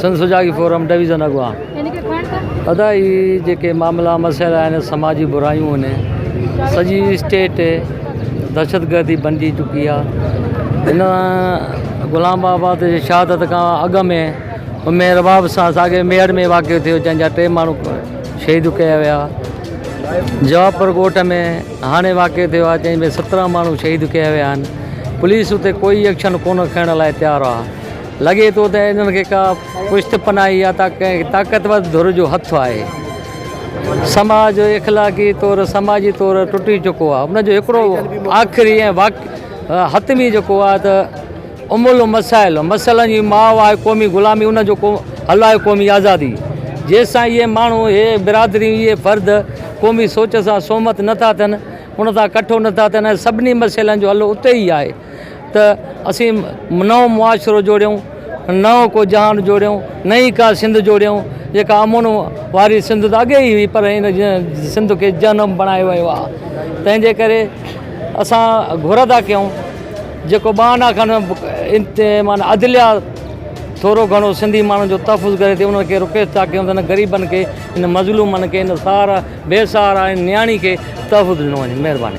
سنڌ سجاڳي forum division اڳواڻ ادا هي جيڪي معاملا مسئلا آهن سماجي برايون آهن سڄي اسٽيٽ دهشتگردي بنجي چڪي آهي هن غلام آباد جي شهادت کان اڳ ۾ مير باب سان ساڳي ميڙ ۾ واقع ٿيو جنهن جا ٽي ماڻهو شهيد ڪيا ويا جوابپور ڳوٺ ۾ هاڻي واقع ٿيو آهي جنهن ۾ سترهن ماڻهو شهيد ڪيا ويا آهن پوليس اتي ڪوئي ايڪشن ڪونه کڻڻ لاء تيار آهي لڳي ٿو ته انهن کي ڪا پشت پناهي يا ته ڪنهن طاقتور ڌر جو هٿ آهي. سماج اخلاقي طور، سماجي طور ٽٽي چڪو آهي. ان جو هڪڙو آخري ۽ حتمي جيڪو آهي ته ام المسائل، مسئلن جي ماء آهي قومي غلامي، ان جو ڪو حل آهي قومي آزادي. جيستائين اهي ماڻهو، اهي برادريون، اهي فرد قومي سوچ سان سهمت نه ٿا ٿين، ان سان ڪٺو نه ٿا ٿين ۽ سڀني مسئلن جو حل اتي ئي آهي. ته اسين نئون معاشرو جوڙيون، نئون ڪو جهان جوڙيون، نئين ڪا سنڌ جوڙيون جيڪا امن واري سنڌ ته اڳي ئي هئي پر هن سنڌ کي جهنم بڻايو ويو آهي تنهن جي ڪري اسان گهر ٿا ڪيون جيڪو ٻانهن کن معنيٰ عدليه ٿورو گهڻو سنڌي ماڻهن جو تحفظ ڪري ٿي انهن کي رڪويسٽ ٿا ڪيون ته هن غريبن کي هن مظلومن کي هن سهارا بي سهارا نياڻي کي تحفظ ڏنو وڃي مهرباني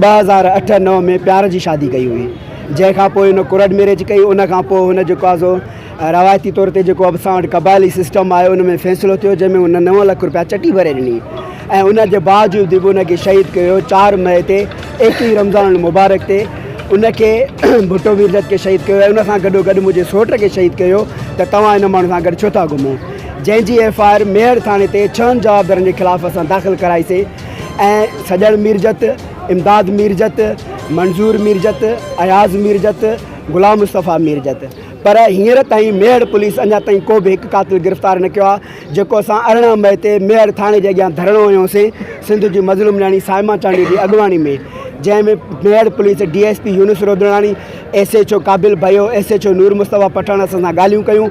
ٻه هزار اٺ نو ۾ پيار جي شادي ڪئي هئي جنهن کان پوء هن ڪورٽ ميريج ڪئي ان کان پوء هن جيڪو آهي سو روايتي طور تي جيڪو اسان وٽ قبائلي سسٽم آهي ان ۾ فيصلو ٿيو جنهن ۾ هن نو لک روپيا چٽي ڀري ڏني ۽ ان جي باوجود به ان کي شهيد ڪيو چار مئي تي ايڪيهين رمضان المبارڪ تي ان کي ڀٽو ويرجت کي شهيد ڪيو ان سان گڏو گڏ منهنجي سوٽ کي شهيد ڪيو ته توهان هن ماڻهو سان گڏ ڇو ٿا گهمو جنهن جي ايف آء آر ميهڙ ٿاڻي تي ڇهن جوابدارن جي خلاف اسان داخل ڪرائيسين ۽ سڄڻ ميرجت، امداد ميرجت، منظور ميرجت، اياز ميرجت، غلام مصطفيٰ ميرجت پر هينئر تائين ميهڙ پوليس اڃا تائين ڪو به هڪ قاتل گرفتار نه ڪيو آهي جيڪو اسان ارڙهن مئي تي ميهڙ ٿاڻي جي اڳيان ڌرڻو هنيو سين سنڌ جي مظلوم نياڻي صائمه چانڊيو جي اڳواڻي ۾ جنهن ۾ Mehar police D S P Younis Rodrani S H O Qabil Bhayo S H O Noor Mustafa Pathan اسان سان ڳالهيون ڪيون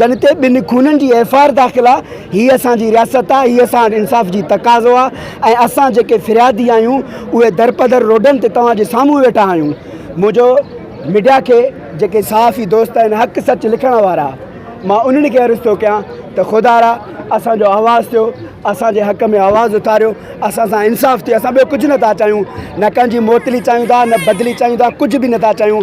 جن تي ٻن خونن جي ايف آء آر داخل آ هي اسان جي رياست آ هي اسان وٽ انصاف جي تقاضو آ ۽ اسان جيڪي فريادي آهيون اهي درپدر روڊن تي توهان جي سامهون ويٺا آهيون منهنجو ميڊيا کي جيڪي صحافي دوست آهن حق سچ لکڻ وارا مان انهن کي عرض ٿو ڪيان ته خدا را اسان جو آواز ٿيو اسان جي حق ۾ آواز اٿاريو اسان سان انصاف ٿيو اسان ٻيو ڪجهه نٿا چاهيون نه ڪنهن جي معطلي چاهيون ٿا نه بدلي چاهيون ٿا ڪجهه به نٿا چاهيون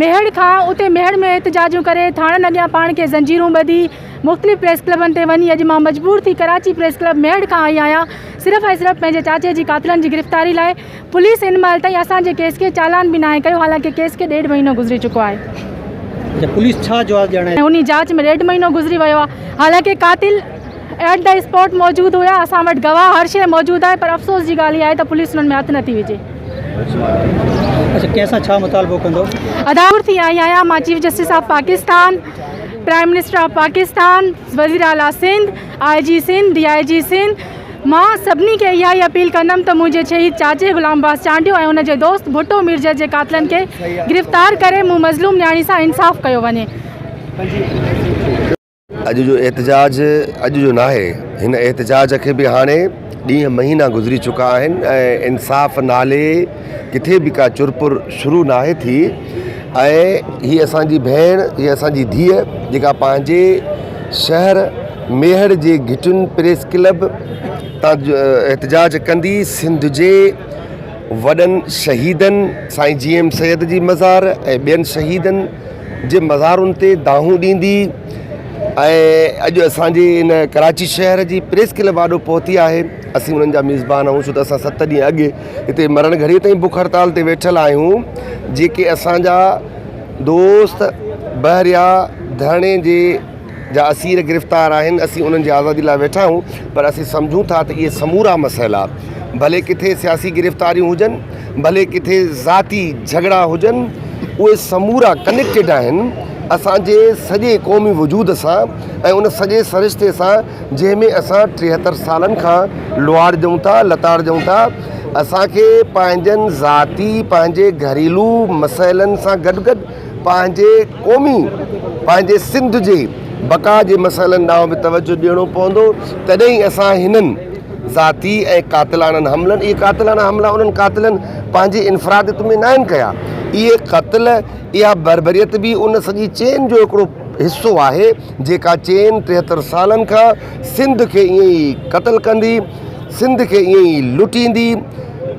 ميهڙ کان اتي ميهڙ ۾ احتجاجون ڪري ٿاڻن اڳيان پاڻ کي زنجيرون ٻڌي مختلف پريس ڪلبن تي وڃي اڄ مان مجبور ٿي ڪراچي پريس ڪلب ميهڙ کان آئي آهيان صرف ۽ صرف پنهنجي چاچي جي قاتلن جي گرفتاري لاء پوليس هن مهل تائين اسان جي ڪيس کي چالان به ناهي ڪيو حالانڪه ڪيس کي ڏيڍ مهينو گذري چڪو آهي. پوليس ڇا جواز ڏيڻ آئي. انهي جاچ ۾ ڏيڍ مهينو گذري ويو آهي حالانڪه قاتل. ايٽ دي اسپاٽ موجود هيا اسان وٽ گواهه هر شيء موجود آهي پر افسوس جي ڳالهه اها آهي ته پوليس انهن ۾ هٿ نٿي وجهي. اچا ڪنهن سان ڇا مطالبو ڪندو. ادا ور ٿي آئي آهيان مان chief justice of Pakistan prime minister of Pakistan وزير اعليٰ سنڌ آء جي سنڌ ڊي آء جي سنڌ مان سڀني کي اها ئي اپيل ڪندم ته منهنجي شهيد چاچي غلام عباس چانڊيو ۽ ان جي دوست ڀٽو ميرجر جي قاتلن کي گرفتار ڪري مون مظلوم نياڻي سان انصاف ڪيو وڃي. اڄ جو احتجاج اڄ جو ناهي، هن احتجاج کي به هاڻي ڏينهن مهينا گذري چڪا آهن ۽ انصاف نالي ڪٿي به ڪا چرپر شروع ناهي ٿي ۽ هي اسان جي ڀيڻ هي اسان جي ڌيء جيڪا پنهنجي شهر ميهڙ جي گهٽين پريس ڪلب تان احتجاج ڪندي سنڌ جي وڏن شهيدن سائين جي ايم سيد جي مزار ۽ ٻين شهيدن جي مزارن تي دانهون ڏيندي ۽ اڄ اسان جي ان ڪراچي شهر جي پريس ڪلب آڏو پهتي آهي اسين انهن جا ميزبان آهيون ڇو ته اسان ست ڏينهن اڳ هتي مرڻ گهڙي تائين بک هڙتال تي ويٺل آهيون جيڪي اسان جا دوست بحريا ڌرڻي جي جا اسير گرفتار آهن، اسين انهن جي آزادي لاء ويٺا آهيون پر اسين سمجهون ٿا ته اهي سمورا مسئلا ڀلي ڪٿي سياسي گرفتاريون هجن، ڀلي ڪٿي ذاتي جهڳڙا هجن، اهي سمورا ڪنيڪٽيڊ آهن اسان جي سڄي قومي وجود سان ۽ ان سڄي سرشتي سان جنهن ۾ اسان ٽيهتر سالن کان لوئاڙجون ٿا، لتاڙجون ٿا. اسان کي پنهنجن ذاتي، پنهنجي گهريلو مسئلن سان گڏ گڏ، پنهنجي قومي پنهنجي سنڌ جي بقا جي مسئلن ڏانهن به توجه ڏيڻو پوندو تڏهن ئي اسان هنن ذاتي ۽ قاتلاڻن حملن اهي قاتلاڻا حملا انهن قاتلن پنهنجي انفراديت ۾ ناهن ڪيا اهي قتل اها بربريت به ان سڄي چين جو هڪڙو حصو آهي جيڪا چين ٽيهتر سالن کان سنڌ کي ائين ئي قتل ڪندي سنڌ کي ائين ئي لٽيندي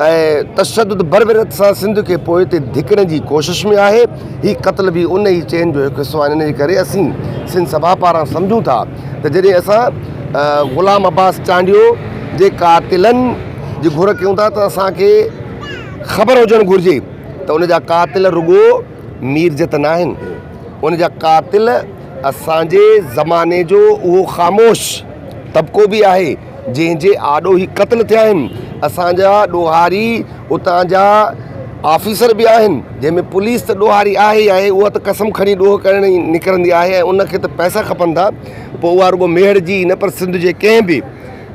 ۽ تشدد بربريت سان سنڌ کي پوئتي ڌڪڻ جي ڪوشش ۾ آهي، هي قتل به ان ئي چين جو هڪ حصو آهن ان جي ڪري اسين سنڌ سڀا پاران سمجهون ٿا ته جڏهن اسان غلام عباس چانڊيو جي قاتلن جي گهر ڪيون ٿا ته اسان کي خبر هجڻ گهرجي ته ان جا قاتل رڳو ميرجت ناهن ان جا قاتل اسان جي زماني جو اهو خاموش طبقو به آهي. جنهن جي آڏو هي قتل ٿيا آهن، اسان جا ڏوهاري اتان جا آفيسر به آهن، جنهن ۾ پوليس ته ڏوهاري آهي ئي آهي، اها ته قسم کڻي ڏوهه ڪرڻ ئي نڪرندي آهي ۽ ان کي ته پئسا کپن ٿا، پوء اها رڳو ميهڙ جي ئي نه پر سنڌ جي ڪنهن به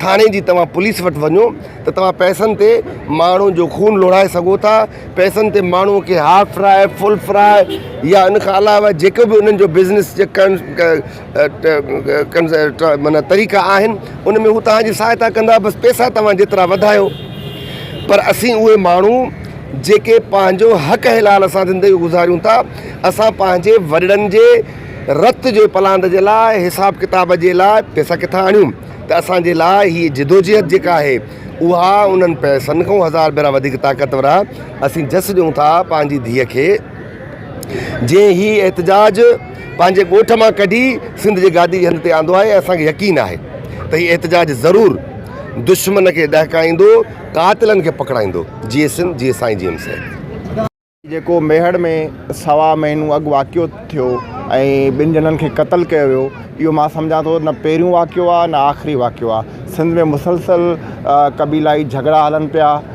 ٿاڻي جي توهان پوليس وٽ وڃو ته توهان پئسن تي ماڻهن جو خون لوڙهائي سگهو ٿا، پئسن تي ماڻهوء کي هاف فرائي، فل فرائي يا ان کان علاوه جيڪو به انهن جو بزنس ڪرڻ معنيٰ طريقا آهن ان ۾ هو توهان جي سهائتا ڪندا بس پيسا توهان جيترا وڌايو پر اسين اهي ماڻهو جيڪي پنهنجو حق حلال سان زندگي گذاريون ٿا اسان پنهنجي وڏڙن جي رت جي پلاند جي لاء حساب ڪتاب جي لاء پيسا ڪٿان آڻيون ته اسانجي لاء هي جدوجهد جيڪا آهي اها انهن پيسن کان هزار ڀيرا وڌيڪ طاقتور آهي اسين جس ڏيون ٿا پنهنجي ڌيء کي جنهن هي احتجاج پنهنجي ڳوٺ مان ڪڍي سنڌ جي گادي جي هنڌ تي آندو آهي ۽ اسان کي يقين آهي ته هي احتجاج ضرور دشمن کي ڏهڪائيندو، قاتلن کي پڪڙائيندو. جيئي سنڌ، جيئي سائين جي ايم سي. جيڪو ميهڙ ۾ سوا مهينو اڳ واقعو ٿيو ۽ ٻن ڄڻن کي قتل ڪيو ويو اهو مان سمجهان ٿو نه پهريون واقعو آهي نه آخري واقعو آهي سنڌ ۾ مسلسل قبيلائي جهڳڙا هلن پيا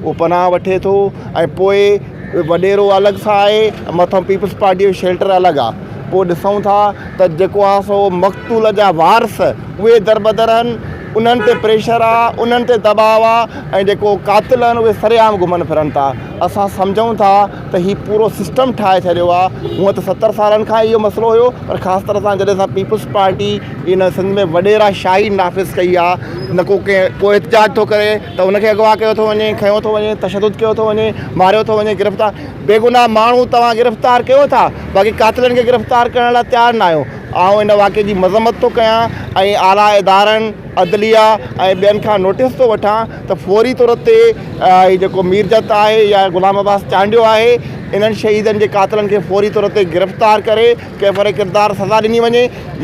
اهو پناهه وٺي ٿو ۽ پوء وڏيرو الڳ سان آهي مٿان پيپلز پارٽيء جو شيلٽر الڳ آهي پوء ڏسون ٿا ته جيڪو آهي سو مقتول جا وارث اهي دربدر آهن انهن تي پريشر آهي انهن تي دٻاء آهي ۽ جيڪو قاتل آهن اهي سري عام گهمن ڦرن ٿا اسان سمجهون ٿا ته هي پورو سسٽم ٺاهي ڇڏيو آهي هونء ته ستر سالن کان اهو مسئلو هيو پر خاص طرح سان جڏهن سان پيپلز پارٽي هي نه سنڌ ۾ وڏيرا شاهي نافذ ڪئي آ نه ڪو ڪنهن ڪو احتجاج ٿو ڪري ته ان کي اغوا ڪيو ٿو وڃي کنيو ٿو وڃي تشدد ڪيو ٿو وڃي ماريو ٿو وڃي گرفتار بيگناهه ماڻهو توهان گرفتار ڪيو ٿا باقي قاتلن کي گرفتار ڪرڻ لاء تيار نه آهيو آئون ان واقعي جي مذمت ٿو ڪيان ۽ اعليٰ ادارن عدليه ۽ ٻين کان نوٽيس ٿو وٺان ته فوري طور تي هي جيڪو ميرجت آهي يا غلام عباس چانڊيو آهي انهن شهيدن جي قاتلن کي فوري طور تي گرفتار ڪري ڪيفر ڪردار سزا ڏني وڃي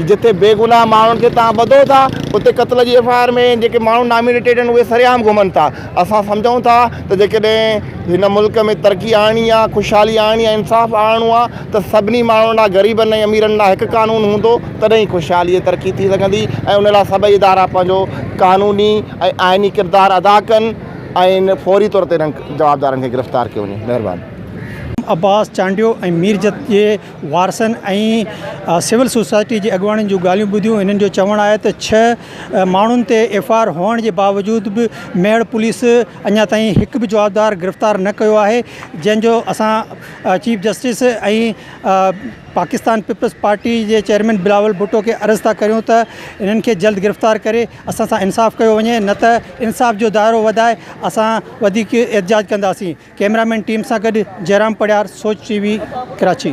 جتي بيگناهه ماڻهن کي توهان ٻڌو ٿا اتي قتل جي ايف آء آر ۾ جيڪي ماڻهو نامينيٽيڊ آهن اهي سرعام گهمن ٿا اسان سمجهون ٿا ته جيڪڏهن هن ملڪ ۾ ترقي آڻڻي آهي خوشحالي آڻڻي آهي انصاف آڻڻو آهي ته سڀني ماڻهن لاء غريبن ۽ اميرن لاء هڪ قانون هوندو تڏهن ئي خوشحالي ۽ ترقي ٿي سگهندي ۽ ان لاء سڀئي ادارا پنهنجو قانوني ۽ آئيني ڪردار ادا ڪن ۽ فوري طور تي انهن جوابدارن کي گرفتار ڪيو وڃي مهرباني. عباس چانڊيو ۽ ميرجت جي وارثن ۽ سول سوسائٽي جي اڳواڻن جون ڳالهيون ٻڌيون هنن جو چوڻ آهي ته ڇهه ماڻهن تي ايف آء آر هئڻ جي باوجود به ميهڙ پوليس اڃا تائين هڪ به جوابدار گرفتار نه ڪيو آهي جنهن جو اسان chief justice ۽ Pakistan Peoples Party جي چيئرمين بلاول ڀٽو کي عرض ٿا ڪريون ته هنن کي جلد گرفتار ڪري اسان سان انصاف ڪيو وڃي نه ته انصاف جو دائرو وڌائي اسان وڌيڪ احتجاج ڪنداسين ڪئميرا مين ٽيم سان گڏ جئرام پڙيار سوچ ٽي وي ڪراچي